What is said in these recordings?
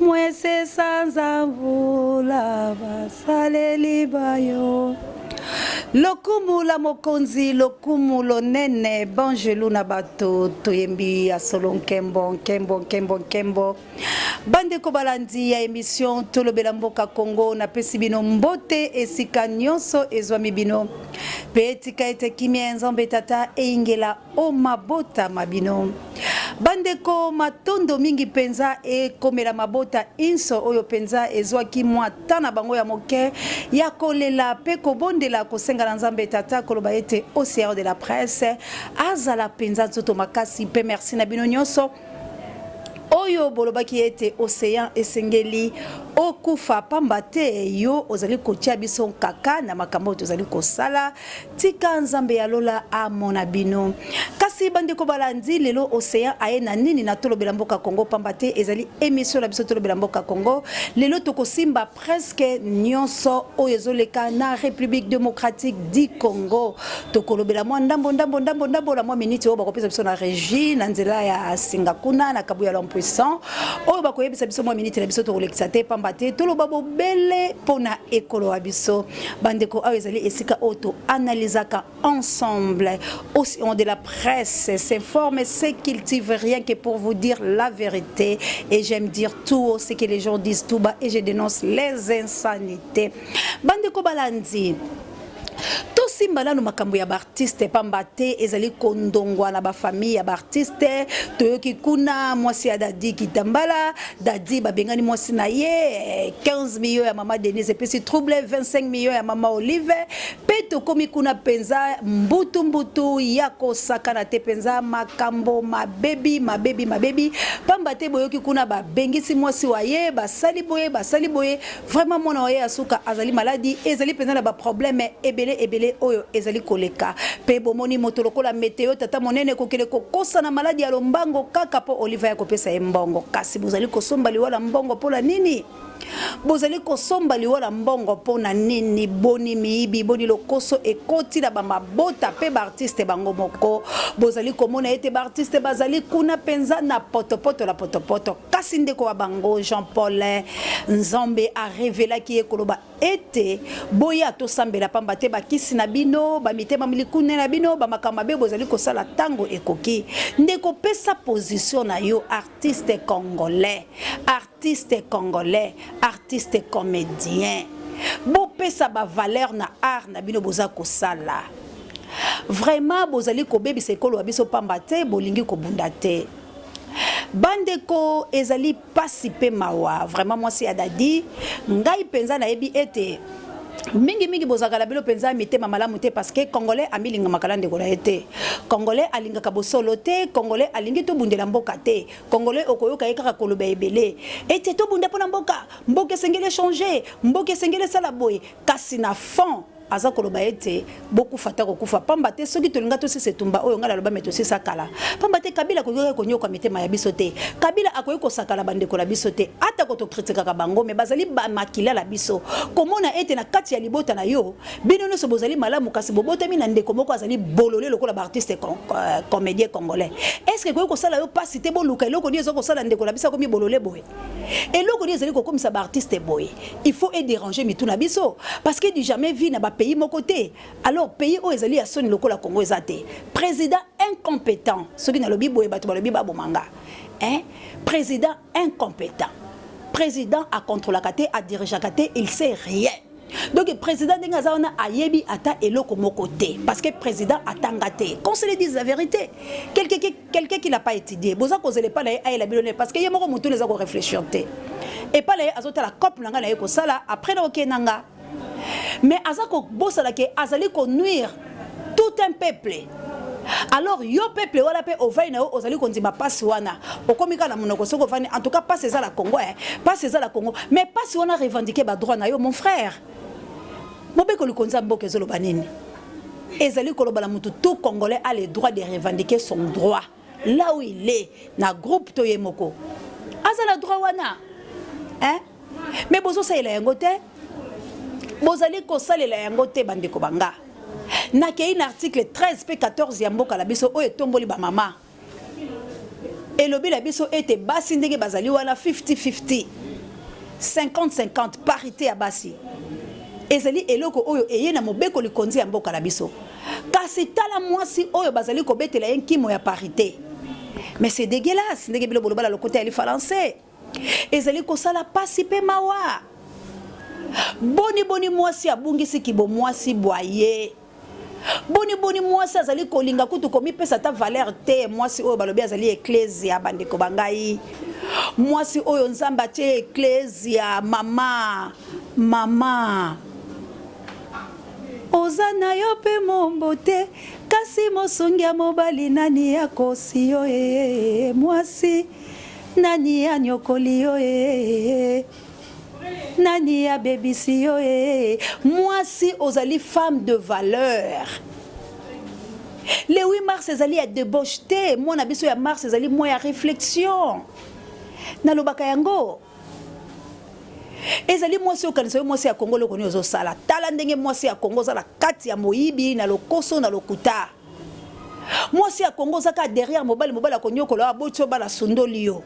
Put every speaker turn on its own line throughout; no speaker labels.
mwese sanza mvula basaleli bayo lokumu la mokonzi lokumu lonene banjelu na bato toyembi ya solo nkembo nkembo nkembo nkembo bandeko balandi ya emission tolobela mboka congo napesi bino mbote esika nyonso ezwami bino mpe etika ete kimia ya nzambe tata eyingela O mabota ma bino. Bandeko, matondo mingi mpenza ekomela mabota inso oyo mpenza ezwaki mwa temps na bango ya moke ya kolela mpe kobondela kosenga na Nzambe Tata koloba ete OCR de la presse azala mpenza nzoto makasi mpe merci na bino nyonso oyo bolobaki ete ocean esengeli okufa pamba te yo ozali kotia biso nkaka na makambo oyo tozali kosala tika nzambe ya lola amona bino kasi bandeko balandi lelo ocean aye na nini na tolobela mboka congo pamba te ezali emission na biso tolobela mboka congo lelo tokosimba presque nyonso oyo ezoleka na république démocratique du congo tokolobela mwa ndambo ndambo ndambo ndambo na mwa miniti oyo bakopesa biso na régie na nzela ya singa kuna na kabuya l'impuissant oyo bakoyebisa biso mwa miniti na biso tokolekisa te pamba te toloba bobele mpo na ekolo ya biso bandeko oyo ezali esika oyo toanalysaka ensemble au nom de la presse s'informe et se cultive rien que pour vous dire la vérité et j'aime dire tout haut ce que les gens disent tout bas et je dénonce les insanités bandeko balandi tosimba nanu makambo ya baartiste pamba te ezali kondongwa na bafamille ya baartiste toyoki kuna mwasi ya dadi kitambala dadi babengani mwasi na ye 15 eh, million ya mama denise epesi trouble 25 million ya mama olive mpe tokomi kuna mpenza mbutu mbutu ya kosakana te mpenza makambo mabebi mabebi mabebi mpamba te boyoki kuna babengisi mwasi wa ye basali boye basali boye vraiment mwana wa ye ya suka azali maladi ezali mpenza na baprobleme ebele ebele oyo ezali koleka mpe bomoni moto lokola meteo tata monene kokele kokosa na maladi ya lombango kaka mpo oliva ya kopesa ye mbongo kasi bozali kosomba liwa la mbongo mpo na nini bozali kosomba liwa na mbongo mpo na nini boni miyibi boni lokoso ekoti na bamabota mpe baartiste bango moko bozali komona ete baartiste bazali kuna mpenza na potopoto na potopoto kasi ndeko wa bango jean paul nzambe arevelaki ye koloba ete boya tosambela pamba te bakisi na bino bamitema milikune na bino bamakambo mabe bozali kosala ntango ekoki ndeko pesa position na yo artiste congolais Art artiste congolais artiste comedien bopesa ba valeur na art na bino boza kosala vraiment bozali kobebisa ekolo ya biso pamba te bolingi kobunda te bandeko ezali pasi mpe mawa vraiment mwasi ya dadi ngai mpenza nayebi ete mingi mingi bozalaka na bino mpenza mitema malamu te parce que congolais amilingamaka na ndeko na ye te congolais alingaka bosolo te congolais alingi tobundela mboka te Congolais okoyoka ye kaka koloba ebele ete tobunda mpo na mboka, mboka esengeli echange, mboka esengeli esala boye, kasi na fond aza koloba ete bokufa ata kokufa pamba te soki tolinga tosisa etumba oyo ngai naloba me tosisa kala pamba te kabila akoki kaka konyoka mitema ya biso te kabila akoki kosakana bandeko na biso te atako tokritikaka bango me bazali bamakila na biso komona ete na kati ya libota na yo bino nyonso bozali malamu kasi bobotami na ndeko moko azali bolole lokola baartiste euh, comédien congolais estce ekoki kosala yo mpasi te boluka eloko nini eza kosala ndeko na biso akomi bolole boye eloko nini ezali kokomisa baartiste boye il faut edérange mitu na biso parce que du jamais vie na bapays moko te alors pays oyo ezali ya soni lokola congo eza te président incompétent soki nalobi boye bato balobi babomanga eh? président incompetent president a controlaka te a dirigeaka te il sait rien donc président ndenge aza wana ayebi ata eloko moko te parce que président atanga te qu'on se le dise la vérité quelqu'un qui, quelqu'un qui n'a pas étudié boza kozela epai na ye ayela bino ne parce que ye moko motu eza korefléchir te epai na ye azotala cope na ngai na ye kosala après na okei na nga mais aza kobosana ke azali ko nuire tout un peuple alors yo peuple wana mpe ovai na yo ozali kondima mpasi wana okomi kaka na monoko soki ovandi en tout cas mpasi eza la congo eh. mpasi eza la congo mais mpasi wana revendiquer badroit na yo mon frère mobeko likonzi ya mboka ezoloba nini ezali koloba na motu tout congolais a le droit de revendiquer son droit là où il est na groupe to ye moko aza na droit wana hein mais bozosalela yango te bozali kosalela yango te bandeko banga nakei na article 13 mpe 14 ya mboka na biso oyo etomboli bamama elobi na biso ete basi ndenge bazali wana 50-50 50-50 parité ya basi ezali eloko oyo eye na mobeko likonzi ya mboka na biso Kasi tala mwasi oyo bazali kobetela ye nkimo ya parite. Mais c'est dégueulasse ndenge bino boloba na lokota ya lifalanse. Ezali kosala pasi mpe mawa. Boni boni mwasi abungisi kibomwasi bwa ye. Boni boni mwasi azali kolinga kutu komipesa ata valeur te mwasi oyo balobi azali eklezia bandeko ba ngai. Mwasi oyo Nzambe atie eklezia mama mama. Oza na yo pe moombo te kasi mosungi ya mobali nani akosi yo ee mwasi nani anyokoli yo ee nani abebisi yo ee mwasi ozali femme de valeur le 8 mars ezali ya debauche te mwana biso ya mars ezali mwa ya réflexion nalobaka yango ezali mwasi okanisa yo mwasi ya kongo eloko nini ozosala tala ndenge mwasi ya kongo oza na kati ya moyibi na lokoso na lokuta mwasi ya kongo oza kaka derrière mobali mobali akonyokola aboti yo bana asundoli yo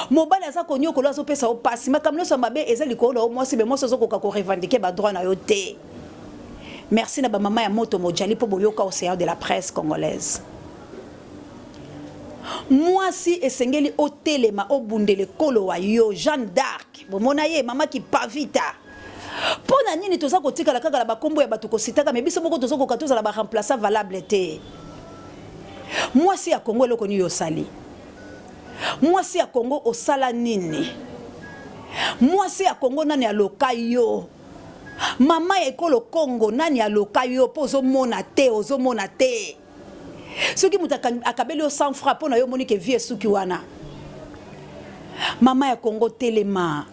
mobali aza konyokola azopesa yo mpasi makambo nyonso ya mabe eza likolo na yo mwasi me mwasi ozokoka korevendike badroit na yo te merci na bamama ya moto mojali mpo boyoka océan de la presse congolaise Muasi esengeli otelema obundela ekolo wa yo Jeanne d'arc bomona ye mama kipavita pona nini toza kotikala kaka na bakombo ya batu kositaka me biso moko tozo koka tozala ba remplaçant valable te muasi ya Congo eloko nini osali muasi ya Congo osala nini muasi ya Congo nani aloka yo mama ya ekolo Congo nani aloka yo po ozomona te ozomona te soki moto akabeli yo 100 francs mpo na yo omoni ke vie esuki wana mama ya kongo telema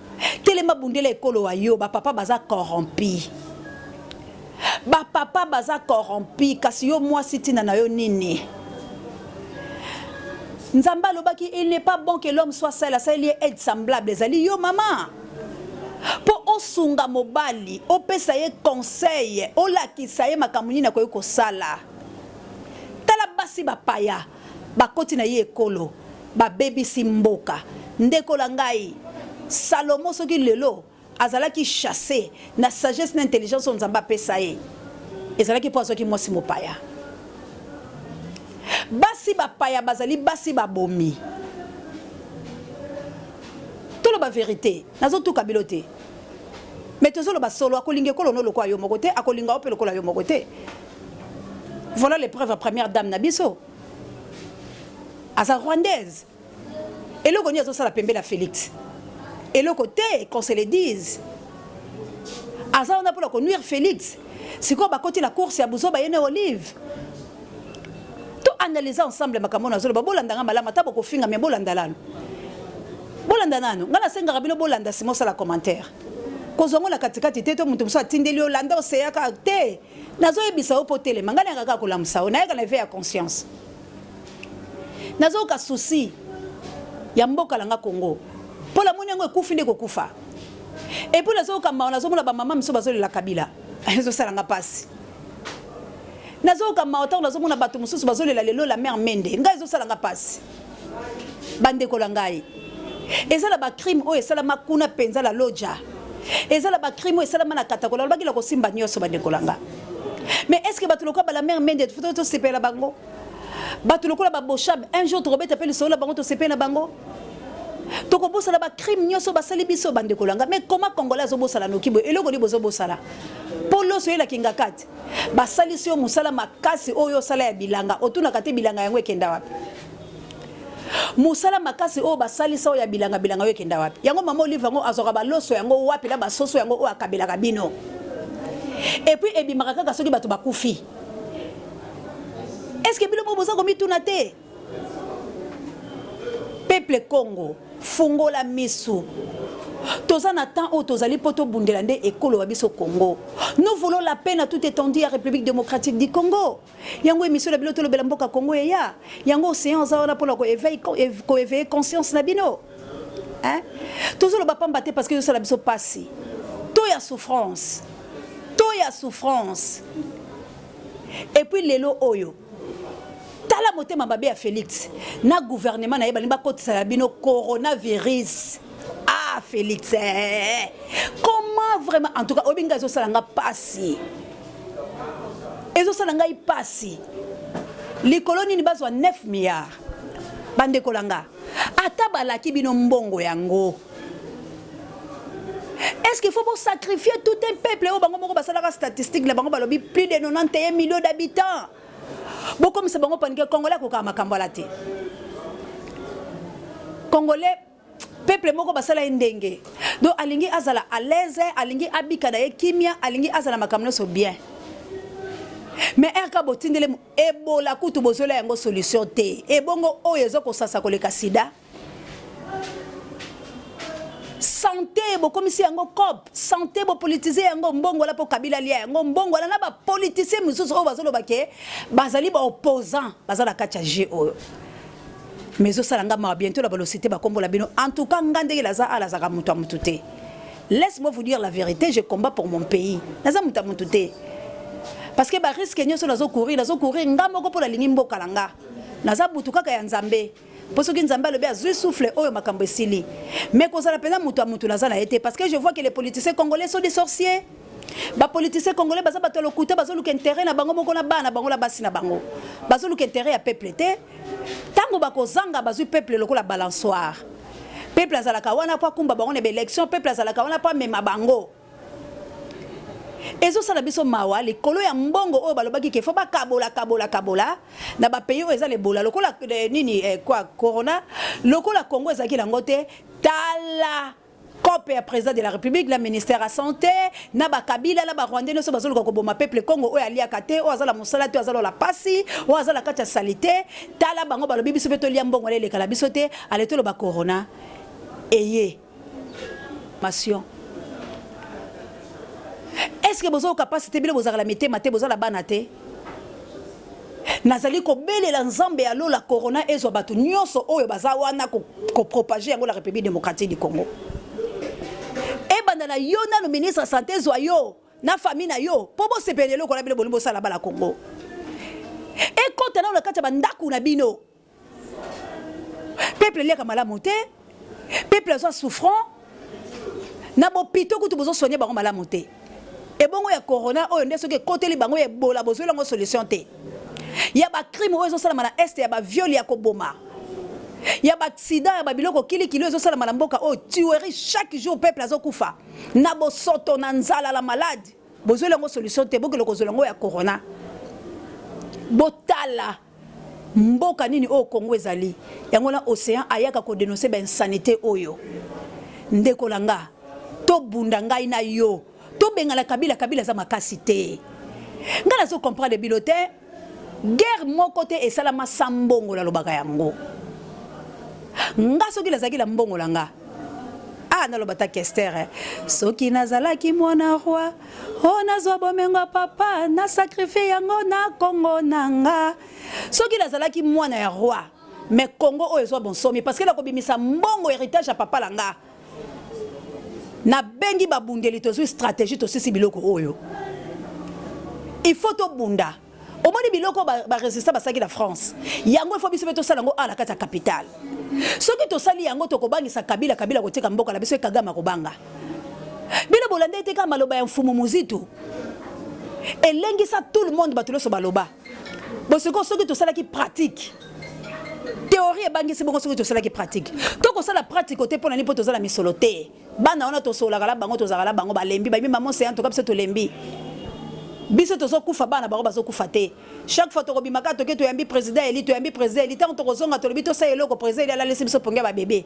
telema bundela ekolo wa yo bapapa baza corrompi bapapa baza corrompi kasi yo mwasi ntina na yo nini nzambe alobaki il n'est pas bon que l'homme soit seul asaleli ye aide semblable ezali yo mama mpo osunga mobali, opesa ye conseil, olakisa ye makambo nini akoki kosala. Tala basi bapaya bakoti na ye ekolo babebisi mboka. Ndeko na ngai, Salomo soki lelo azalaki chasse na sagesse na intelligence oyo Nzambe apesa ye, ezalaki mpo azwaki mwasi mopaya. Basi bapaya bazali basi babomi. Toloba verite, nazo tuka bilo te. Mais tozo loba solo, akolinga ekolo no lokola yo moko te, akolinga yo pe lokola yo moko te. Voilà les preuves ya première dame na biso. Aza rwandaise. Eloko nini azo sala pembela Felix? Eloko te, qu'on se le dise. Aza wana pona ko nuire Felix. sikoyo bakoti na course ya buzoba ye na olive to analyse ensemble makambo na zoloba bolanda nga malamu ata bokofinga me bolanda lalo bolanda nanu nga nasengaka bino bolanda sima osala commentaire kozwa ngo na katikati te to moto mosusu atindeli yo landa oseyaka te nazoyebisa yo mpo telema ngai nayaka kaka kolamusa yo nayaka na eve ya conscience nazoyoka susi ya mboka na nga congo mpo namoni yango ekufi nde kokufa epuis nazoyoka mawa nazomona bamama miso bazolela kabila ezosala nga mpasi nazoyoka mawa ntango nazomona bato mosusu bazolela lelo la mare mende ngai ezosala nga mpasi bandeko na ngai eza na bacrime oyo esalama kuna mpenza la loja eza na bacrime oyo esalama na katakola alobaki la kosimba nyonso bandeko na ngai mais est ce que bato lokola bala mare mende tosepela bango bato lokola baboshab un jour tokobeta mpe lisolo na bango tosepeli na bango tokobosana bacrime nyonso basali biso bandeko langa mais koma congolais azobosana noki boye eloko nini bozobosana mpo loso oyela kingakati basalisi yo mosala makasi oyo osala ya bilanga otunaka te bilanga yango ekenda wapi mosala makasi oyo basalisa oyo ya bilanga bilanga oyo ekenda wapi yango mama olive yango azwaka baloso yango wapi na basoso yango oyo akabelaka bino epuis ebimaka kaka soki bato bakufi eske bino moko boza komituna te peuple congo fungola misu toza na temps oyo tozali mpo tobundela nde ekolo ya biso congo nous voulons la paix na toute étendue ya république démocratique du congo yango émission na bino tolobela mboka congo eya yango océan aza wana mpona koeveille conscience na bino hein tozo loba pamba te parce que sala biso pasi to ya souffrance to ya souffrance et puis lelo oyo tala motema mabe ya Félix na gouvernement na ye balingi bakotisa na bino coronavirus ah Félix eh. comment vraiment en tout cas oyebi ngai ezosala nga pasi ezosala ngai pasi likolo nini bazwa 9 milliards bandeko la nga ata balaki bino mbongo yango est-ce qu'il faut sacrifier tout un peuple oyo bango moko basalaka statistique na bango balobi plus de 91 millions d'habitants bokomisa bango panike congolais akokaka makambo ala te congolais peuple moko basala ye ndenge donc alingi azala à l'aise alingi abika na ye kimia alingi azala makambo nyonso bien mais rk botindele Ebola kutu bozola yango solution te. Ebongo oyo ezo kosasa koleka sida? Sante bokomisi yango cop, sante bo politiser yango mbongo wala po Kabila lia yango mbongo wala na ba politiciens mosusu oyo bazoloba ke bazali ba opposants baza na kati ya jeu oyo. mais ezosala nga mawa bientôt la balosite bakombola bino en tout cas nga ndenge laza ala azaka moto ya moto te laisse moi vous dire la vérité je combat pour mon pays naza moto ya moto te parce que bariske nyonso nazo courir nazo courir nga moko mpo nalingi mboka na nga naza butu kaka ya nzambe mpo soki nzambe alobi azwi souffle oyo makambo esili mais kozala mpenza moto ya moto naza na ye te parce que je vois que les politiciens congolais sont des sorciers Ba politiciens congolais baza bato ya lokuta, bazoluka interet na bango moko na bana bango na basi na bango, bazoluka interet ya peuple te. Tango bakozanga bazwi peuple lokola balançoire, peuple azalaka wana mpo akumba bango na ba elections, peuple azalaka wana mpo amema bango. Ezosala biso mawa likolo ya mbongo oyo balobaki ke faut bakabola kabola kabola na ba pays oyo eza lebola lokola eh, nini eh, kwa corona lokola Congo ezalaki nango te tala cope ya président de la république na ministère ya santé na bakabila na barwandais nyonso bazoluka koboma peuple congo oyo aliaka te oyo aza na mosala te aza lola mpasi oyo aza na kati ya salite tala bango balobi biso mpe tolia mbongo ala elekala biso te ale toloba corona eye mation est ce que bozoyoka mpasi te bino bozalaka na mitema te boza na bana te Nazali kobelela Nzambe ya lola corona ezwa bato nionso oyo baza wana ko propager yango na Republique democratique du Congo. Ebanda na yo nanu ministre ya sante ezwa yo na famille na yo po bosepela eloko wana bino bolingi bosala bana Congo. Ekota nanu na kati ya ba ndaku na bino. peuple eliaka malamu te peuple aza souffrant na bopito kutu bozosoigne bango malamu te ebongo ya corona oyo nde soki ekoteli bango ya ebola bozweli yango solution te ya bacrime oyo ezosalama na este ya baviole ya koboma ya baaccident ya babiloko kilikili oyo ezosalama na mboka oyo tuerie chaque jour peuple azokufa na bosoto na nzala la malade bozweli yango solution te bokende kozwela yango ya corona botala Mboka nini oyo Congo ezali yango na ocean ayaka ko denoncer ba insanite oyo ndeko na nga tobunda ngai na yo tobengana kabila kabila aza makasi te ngai nazo comprendre bino te guerre moko te esalama sa mbongo nalobaka yango nga soki nazalaki na mbongo na nga ah naloba ta kestere soki nazalaki mwana roi Oh, nazwa bomengo ya papa na sakrifie yango na kongo na nga soki nazalaki mwana ya roi mais kongo oyo ezwa bonsomi parce que nakobimisa mbongo héritage ya papa na nga nabengi babundeli tozwi stratégie tosisi biloko oyo il faut tobunda omoni biloko ba resistant basalaki na france yango ifo biso mpe tosala yango awa na kati ya capitale soki tosali yango tokobangisa kabila kabila kotika mboka na biso ekagama kobanga bino bolanda ete kaka maloba ya mfumu muzitu elengisa tout le monde bato nyonso baloba bosiko soki tosalaki pratique théorie ebangisi bongo soki tosalaki pratique to kosala pratique te mpo na nini mpo toza na misolo te bana wana tosolaka na bango tozalaka na bango balembi bayebi mama ocean toka biso tolembi biso tozokufa bana bango bazokufa te chaque fois tokobima kaka toke toyambi président eli toyambi président eli ntango tokozonga tolobi tosala eloko président eli alalisi biso pongi ya babebe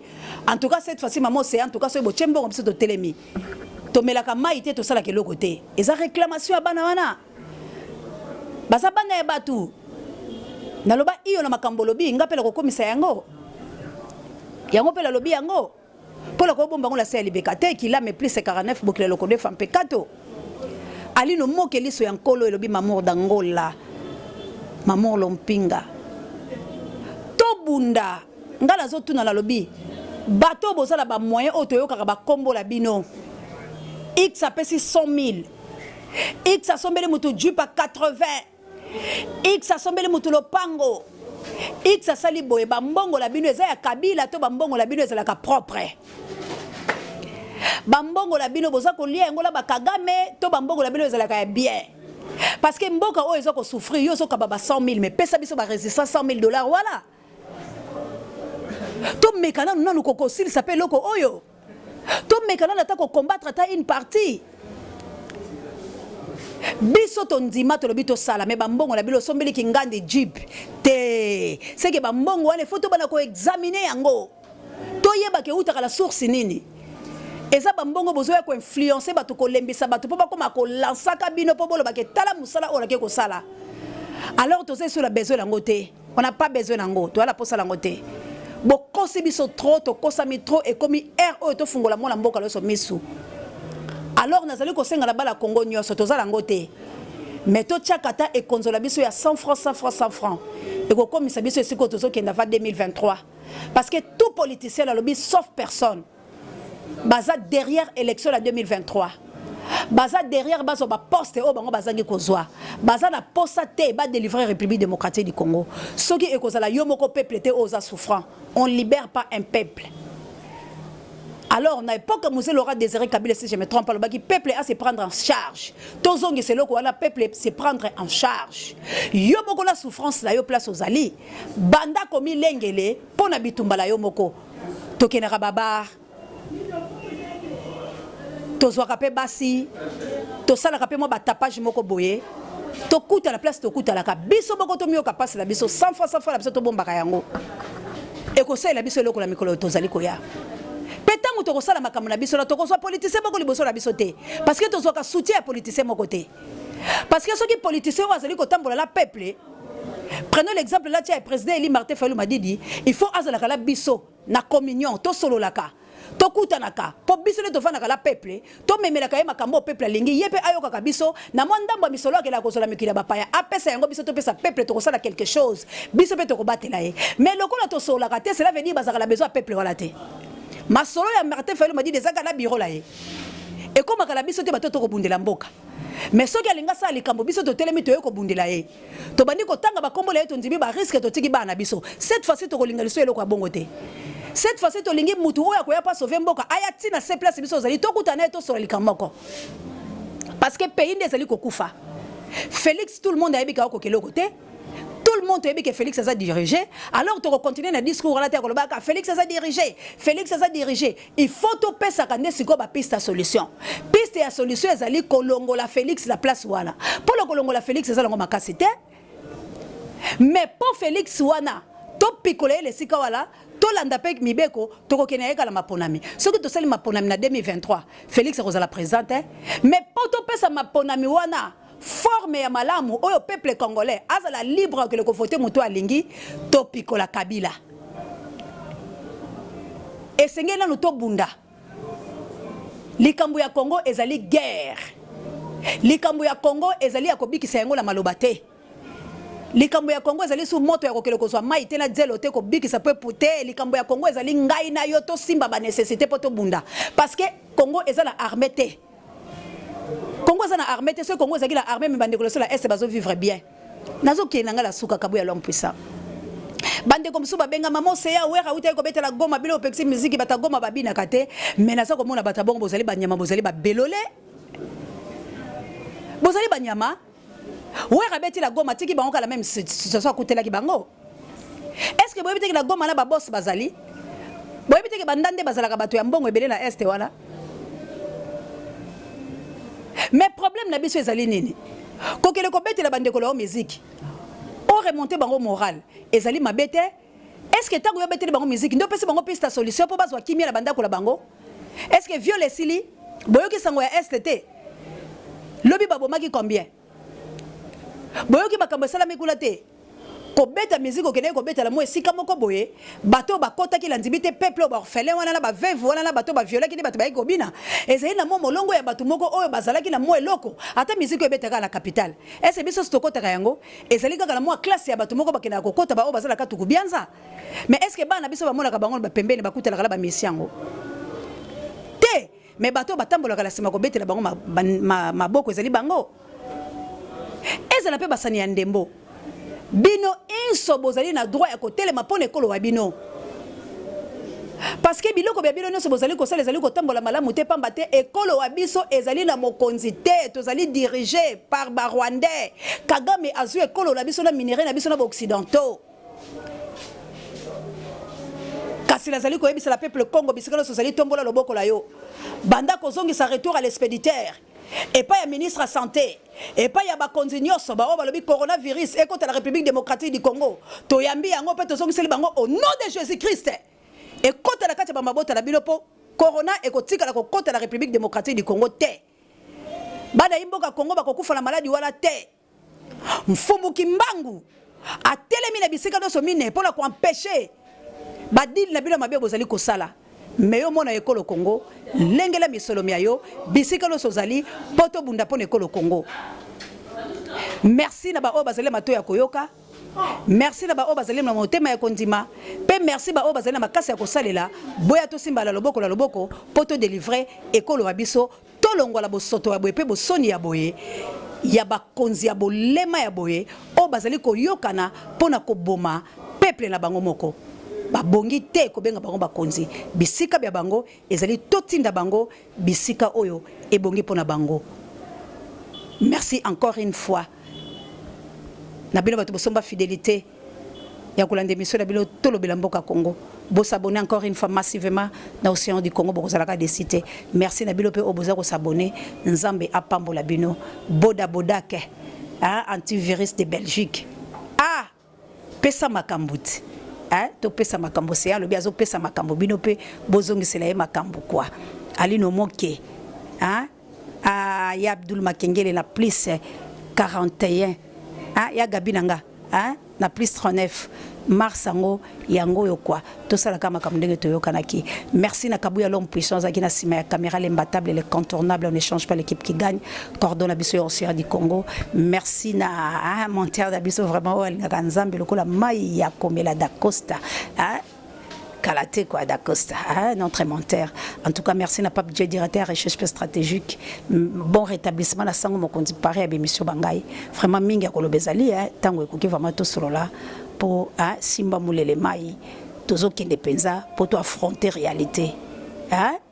en tout cas cette fois-ci mama ocean en tout cas soki botie mbongo biso totelemi tomelaka mai te tosalaka eloko te eza réclamation ya bana wana baza bana ya bato naloba iyo na makambo olobi nga mpe nakokomisa yango yango mpe nalobi yango Pour le kobomba ngo la se libeka te qu'il a mais plus 49 bokila loko de femme pekato. Alino moke liso ya nkolo elobi mamour d'Angola. Mamour lompinga. Tobunda nga nazotuna nalobi bato oyo boza na bamoyen oyo toyokaka bakombola bino x apesi 100 000 x asombeli moto jupe ya 80 X asombeli mutu lopango. X asali boye ba mbongo la bino eza ya Kabila to ba mbongo la bino ezalaka propre. Ba mbongo la bino boza kolia yango la ba Kagame to ba mbongo la bino ezalaka ya bien. Parce que mboka oyo ezo ko souffrir yo zo kaba ba 100.000 mais pesa biso ba resistance 100.000 dollars wala. To mekana nanu kokosilisa pe loko oyo. tomeka nano ata kocombattre ata une partie biso tondima tolobi tosala me bambongo na bino osombeli kingandi jib te seke bambongo wana efo tobana koexamine yango toyebaka eutaka na source nini eza bambongo bozoya koinfluence bato kolembisa bato mpo bakoma kolansaka bino mpo bolobake tala mosala oyo nake kosala alors toza esola besoin yango te on n'a pas besoin nango toyala posa lango te bokosi biso trop tokosami trop ekomi aire oyo tofungola mwana mboka loso misu alors nazali kosenga na bala kongo nyonso toza nango te mais totyaka ata ekonzola biso ya 100 francs 100 francs 100 francs ekokomisa biso esika oyo tozokenda va 2023 parce que tout politicien alobi sauf personne baza derrière élection ya 2023 baza derrière bazwa baposte oyo bango bazangi kozwa baza na posa te badelivre république démocratique du congo soki ekozala yo moko peuple te oyo oza souffrant on libère pas un peuple alors na époque mose laura désiré kabila si je me trompe alobaki peuple a se prendre en charge tozongisa eloko wana peuple se prendre en charge yo moko na souffrance na yo place ozali banda komilengele mpo na bitumba na yo moko tokendaka ba bar tozwaka mpe basi tosalaka mpe mwa batapage moko boye tokutana place tokutanaka biso moko tomiyoka mpasi na biso sans fois sans fois na biso tobombaka yango ekosalela biso eloko na mikolo tozali koya mpe ntango tokosala makambo na biso na tokozwa politisien moko liboso na biso te parce que tozwaka soutien ya politisien moko te parce que soki politisien oyo azali kotambola na peuple prenons l'exemple là tia président eli martin fayulu madidi il faut azalaka la biso na communion tosololaka tokutanaka mpo biso nde tofandaka la peuple tomemelaka ye makambo oyo peuple alingi ye mpe ayokaka biso na mwa ndambo ya misolo akela kozala mikili ya bapaya apesa yango biso topesa peuple tokosala quelque chose biso mpe tokobatela ye mais lokola tosololaka te cela veut dire bazalaka na besoin ya peuple wana te masolo ya martin fayulu madidi ezalaka na biro na ye ekomaka na biso te bato tokobundela mboka mais soki alingi asala likambo biso totelemi toye kobundela ye tobandi kotanga bakombo na ye tondimi bariske totiki bana na biso cette fois-ci tokolinga liso eloko ya bongo te cette fois-ci tolingi mutu oyo akoya mpo asauve mboka aya ti na se place biso ozali tokuta na ye tosola likambo moko parce que pays nde ezali kokufa félix tout le monde ayebi kaoko keloko te tout le monde toyebi ke félix aza dirige alors tokocontinue na discours wana te ya kolobaka félix aza dirige félix aza dirige Il faut to pesaka nde sikoyo ba piste ya solution. Piste ya solution ezali kolongola Felix na place wana. Polo kolongola Felix ezala ngo makasi te. Mais po Felix wana to pikola ye lesika wala tolanda mpe mibeko tokokende ye kala maponami soki tosali maponami na 2023 félix akozala président te mais mpo topesa maponami wana forme ya malamu oyo peuple congolais azala libre akele ko voter moto alingi to pikola kabila esengeli nanu tobunda likambo ya congo ezali guerre likambo ya congo ezali ya kobikisa yango na maloba te likambo ya congo ezali su moto ya kokele kozwa mai te na zelo te kobikisa pepu te likambo ya congo ezali ngai na yo tosimba banecessité mpo tobunda parce que congo eza na arme te Congo aza na armée te soki Congo ezalaki na armée me bandeko loso la est bazo vivre bien nazokende na ngai la suka kabuya l'homme puissant bandeko mosusu babengama mose ya wera utaki kobetela goma bino opekisi miziki bato ya goma babinaka te me naza komona bato ya bongo bozali banyama bozali babelole bozali banyama Werra abeti la Goma atiki bango kala meme situation akutelaki bango. Est-ce que boyebi te que la Goma na ba boss bazali? Boyebi te que banda nde bazalaka bato ya mbongo ebele na Est wana? Mais problème na biso ezali nini? Kokele kobetela bandeko lao miziki. O remonter bango moral. Ezali mabe te, est ce que tango yo beteli bango musique nde opesi bango piste ya solution mpo bazwa kimia na bandako na bango est ce que viole esili boyoki sango ya est te lobi babomaki combien boyoki makambo esalami kuna te kobeta musique okendeki kobeta na mwa esika moko boye bato oyo bakotaki na ndimi te peuple oyo baorphelin wana na baveve wana na bato baviolaki nde bato bayaki kobina ezali na mwa molongo ya bato moko oyo bazalaki na mwa eloko ata musique oyo ebetaka na capitale ese biso sitokotaka yango Ezali kaka na mwa classe ya bato moko bakendaka kokota baoyo baza na katuku bianza mais est ce que bana biso bamonaka bango na bapembeni bakutanaka na bamesi yango te mais bato oyo batambolaka na nsima kobetela bango maboko ezali bango ezala mpe basani ya ndembo bino inso bozali na droit ya kotelema mpo na ekolo wa bino Parce que biloko bia bino nionso bozali kosala ezali kotambola malamu te pamba te ekolo wa biso ezali na mokonzi te tozali dirige par ba rwandais kagame azui ekolo na biso na minerais na biso na ba occidentaux kasi nazali koyebisa la peuple congo bisika nyonso ozali tombola loboko la yo banda kozongisa retour à l'expéditeur epai ya ministre ya santé Epai ya bakonzi nyoso baoyo balobi coronavirus ekota na Republique democratique du Congo, toyambi yango mpe tozongiseli bango au nom de Jesus Christ, ekota na kati ya ba mabota na bino mpo corona ekotikala kokota na Republique democratique du Congo te. Bana imboka Congo bakokufa na maladi wana te. Mfumu Kimbangu atelemi na bisika nyonso mine mpo na koampeche badili na bino mabe bozali kosala me yo mona ekolo Congo lengela misolo mya yo bisika nyonso ozali mpo tobunda mpo na ekolo Congo merci na baoyo bazali mato ya koyoka merci na baoyo bazali na motema ya kondima mpe merci baoyo bazali na makasi ya kosalela boya tosimbala loboko na loboko mpo todelivre ekolo ya biso Tolongwa na bosoto ya boye mpe bosoni ya boye ya bakonzi ya bolema ya boye oyo bazali koyokana mpo na koboma peuple na bango moko. Babongi te kobenga bango bakonzi. Bisika bya bango ezali totinda bango bisika oyo ebongi mpo na bango. Merci encore une fois na bino bato bosomba fidelite. ya kolanda emission na bino tolobela mboka Congo bo s'abonner encore une fois massivement na océan du Congo bokozalaka desi te merci na bino mpe oyo boza kosabone nzambe apambola bino boda bodake hein, antivirus de Belgique ah pesa makambo ti hein, topesa makambo seya alobi azopesa makambo bino mpe bozongisela ye makambo kwa alino moke hein? Ah, ya Abdul Makengele na plus 41. Ah, ya Gabi na nga. Ah, na plus 39. Mars yango yango yo kwa tosalaka makambo ndenge toyokanaki merci na kabuya l'homme puissant azalaki na nsima ya caméra l'imbattable le contournable on ne change pas l'équipe qui gagne cordon na biso ya océan du congo merci na ah, monteur na biso vraiment oyo alingaka nzambe lokola mai ya komela dacosta ah, Kalate quoi d'Acosta, hein, notre menteur. En tout cas, merci na Pape Dieu directeur recherche stratégique. Bon rétablissement na sango mokonzi pareil à émission bangai. Vraiment mingi akolobezali hein, tango ekoki vraiment tout solo là pour hein, simba mulele mai. Tozokende penza pour to affronter réalité. Hein?